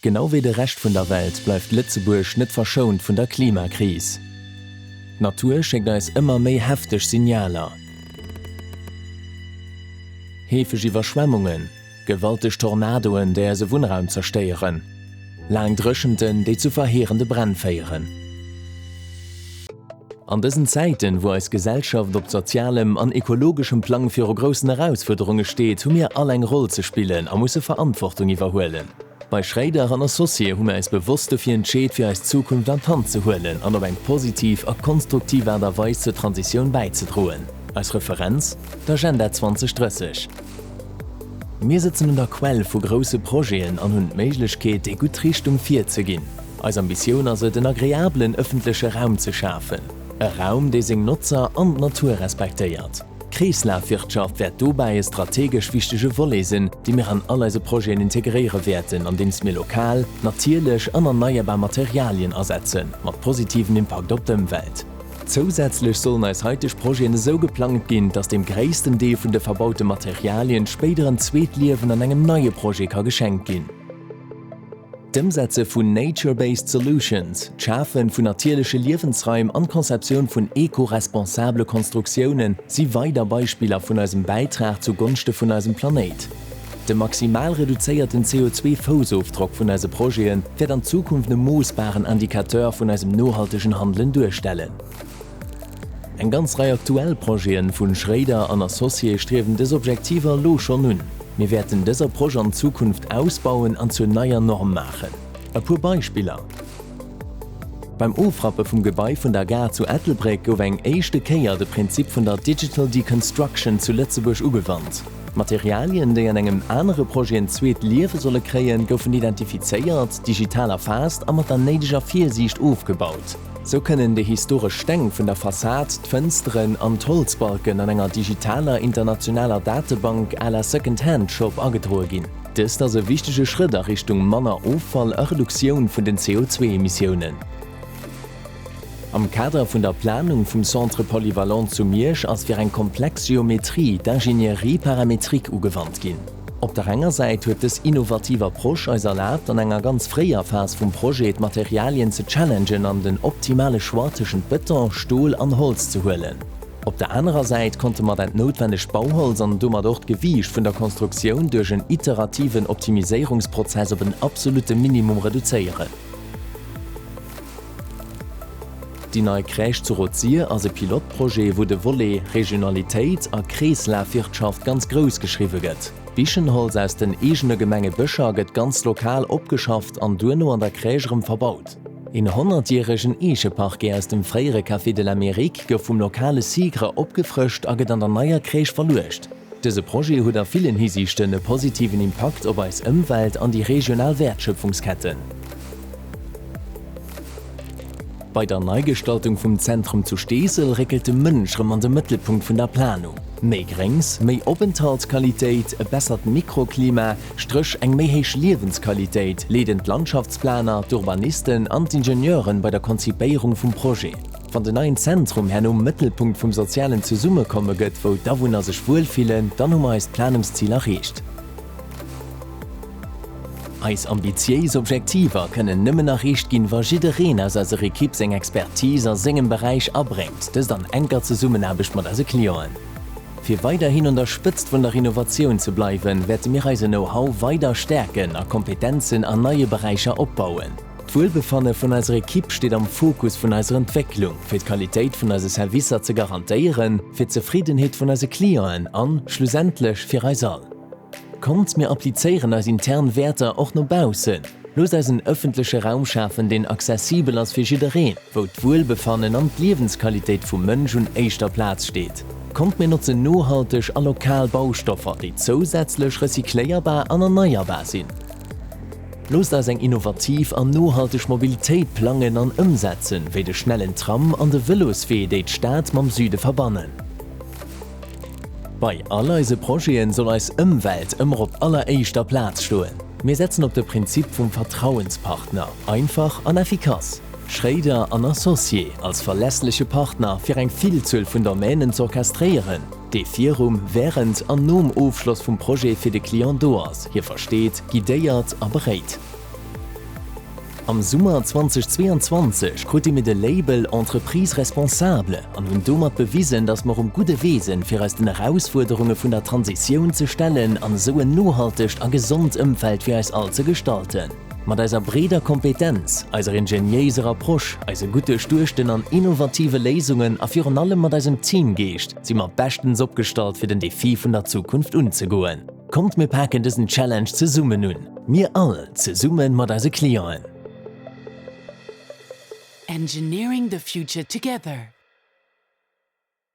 Genau wéi de Rescht vun der Welt bleift Lëtzebuerg net verschount vun der Klimakris. D'Natur schéckt eis ëmmer méi hefteg Signaler. Heefeg Iwwerschwemmungen, gewalteg Tornadoen, déi eise Wunnraum zerstéieren, laang Dréchenten, déi zu verheerende Bränn féieren. An dësen Zäiten, wou eis Gesellschaft op sozialem an ekologeschem Plang viru groussen Erausfuerderunge steet, hu mir all eng Roll ze spillen a musse Verantwortung iwwerhuelen. Bei Schréider an Associé hu mir eis bewosst dofir entscheet, fir eis Zukunft an d'Hand ze huelen an op eng positiv a konstruktiv Aart a Weis zur Transitioun bäizedroen. Eis Referenz? D'Agenda 2030. Mir sëtzen un der Quell vu grousse Projeten an hunn d'Méiglechkeet, déi gutt Richtung vir ze ginn. Eis Ambitioun ass et en agreabelen ëffentleche Raum ze schafen, e Raum dee seng Notzer an d'Natur respektéiert. D'Kreeslafwirtschaft wäert dobäi e strategesch wichtege Volet sinn, dee mir an all eise Projeten integréiere wäerten, andeems mir lokal, natierlech an erneierbar Materialien asetzen, mat positivem Impakt op d'Ëmwelt. Zousätzlech sollen eis haiteg Projeten esou geplangt ginn, datt dem gréissten Deel vun de verbaute Materialien spéider en zweet Liewen an engem neie Projet ka geschenkt ginn. D'Ëmsetze vun Nature-Based Solutions, d'Schafe vun natierleche Liewensraim an d'Konzeptioun vun eco-responsabele Konstruktioune si weider Beispiller vun eisem Bäitrag zu Gonschte vun eisem Planéit. De maximal reduzéierten CO2-Foussofdrock vun eise Projete wäert an Zukunft e moossbaren Indicateur vun eisem nohaltegen Handelen duerstellen. Eng ganz Rei aktuell Projeten vun Schrader an Associés striewen des Objektiver lo schon un. Mir wäerten des Approche an Zukunft ausbauen an zur neier Norm maachen. E puer Beispiller. Beim Ofrappe vum Gebai vun der Gare zu Ettelbréck gouf eng éischte Kéier de Prinzip vun der Digital Deconstruction zu Lëtzebuerg ugewannt. Materialien, déi an engem anere Projet en zweet Liewe solle kréien, goufen identifizéiert, digital erfaasst a mat der néideger Virsiicht ofgebaut. Sou kënnen déi historesch Steng vun der Fassad, d'Fënsteren an d'Holzbalken an enger digitaler internationaler Datebank à la Second Hand Shop agedroe ginn. Dëst ass e wichtege Schrëtt a Richtung manner Offall a Reduktioun vun den CO2-Emissiounen. Am Kader vun der Planung vum Centre Polyvalent zu Miersch ass fir eng komplex Geometrie d'Ingénierie paramétrique ugewannt ginn. Op der enger Säit huet dës innovativ Approche eis erlaabt, an enger ganz fréier Phas vum Projet d'Materialien ze challengen an den optimale Choix tëschent Bëton, Stol an Holz ze huelen. Op der anerer Säit konnte mer dat noutwennegt Bauholz an domat och d'Gewiicht vun der Konstruktioun duerch en iterativen Optimiséierungsprozess op en absolutte Minimum reduzéieren. Déi nei Crèche zu Rosier ass e Pilotprojet, wou de Volet Regionalitéit a Kreeslafwirtschaft ganz grouss geschriwwe gëtt. D'Bichenholz aus den eegene Gemenge Bëscher gëtt ganz lokal opgeschafft an duerno an der Crèche erëm verbaut. Een honnertjäregen Eecheparquet aus dem fréiere Café de l'Amérique gouf vum lokale SIGRE opgefrëscht a gëtt an der neier Crèche verluecht. Dëse Projet huet a villen Hisiichten e positiven Impakt op eis Ëmwelt an déi regional Wäertschöpfungsketten. Bei der Neigestaltung vum Zentrum zu Steesel réckelt de Mënsch rëm an de Mëttelpunkt vun der Planung. Méi Gréngs, méi Openthaltsqualitéit, e bessert Mikroklima, strëch eng méi héich Liewensqualitéit, leeden d'Landschaftsplaner, d'Urbanisten an d'Ingenieure bei der Konzipéierung vum Projet. Wann den neien Zentrum herno Mëttelpunkt vum sozialen Zesummekomme gëtt, wou d'Awunner sech wuel fillen, dann hu mer eist Planungsziel erreecht. Eis ambitiéis Objektiver kënnen nëmmen erreecht ginn, wa jiddereen aus eiser Ekipp seng Expertise a sengem Beräich abréngt, dëst an enker Zesummenaarbecht mat eise Clienten. Fir weiderhin un der Spëtzt vun der Innovatioun ze bleiwen, wäerte mir eise Know-how weider stäerken a Kompetenzen an neie Beräicher opbauen. D'Wuelbefanne vun eiser Ekipp steet am Fokus vun eiser Entwécklung, fir d'Qualitéit vun eise Servicer ze garantéieren, fir d'Zefriddenheet vun eise Clienten an, schlussendlech, fir eis all. Kommt, mir applizéieren eis intern Wäerter och no baussen. Loosst eis en ëffentleche Raum schafen, deen accessibel ass fir jiddereen, wou d'Wuelbefannen an d'Liewensqualitéit vum Mënsch un éischter Plaz steet. Kommt, mir notzen nohalteg a lokal Baustoffer, déi zousätzlech recycléierbar an erneierbar sinn. Loosst eis eng innovativ an nohalteg Mobilitéit plangen an ëmsetzen, wéi de schnellen Tram an de Vëloswee, déi d'Stad mam Süde verbannen. Bei all eise Projete soll eis Ëmwelt ëmmer op alleréischter Plaz stoen. Mir setzen op de Prinzip vum Vertrauenspartner, einfach an effikass. Schréider an Associés, als verlässleche Partner fir eng Villzuel vun Domänen z'orchestréieren. dee virum, wärend an nom Ofschloss vum Projet fir de Client do ass, hie versteet, guidéiert a beréit. Am Summer 2022 krute mir de Label Entreprise responsable an hunn domat bewisen, dass mer um gudde Wee sinn, fir eis den Erausfuerderunge vun der Transitioun ze stellen an esou en nohaltegt a gesond Ëmfeld fir eis all ze gestalten. Mat eiser breeder Kompetenz, eiser ingeniéiser Approche, eise gutt duerchduechten an innovative Léisungen a virun allem mat eisem Teamgeescht si mer beschtens opgestallt fir den Defi vun der Zukunft unzegoen. Kommt mir paken dësen Challenge zesummen un, mir all zesumme mat eise Clienten. Engineering the future together.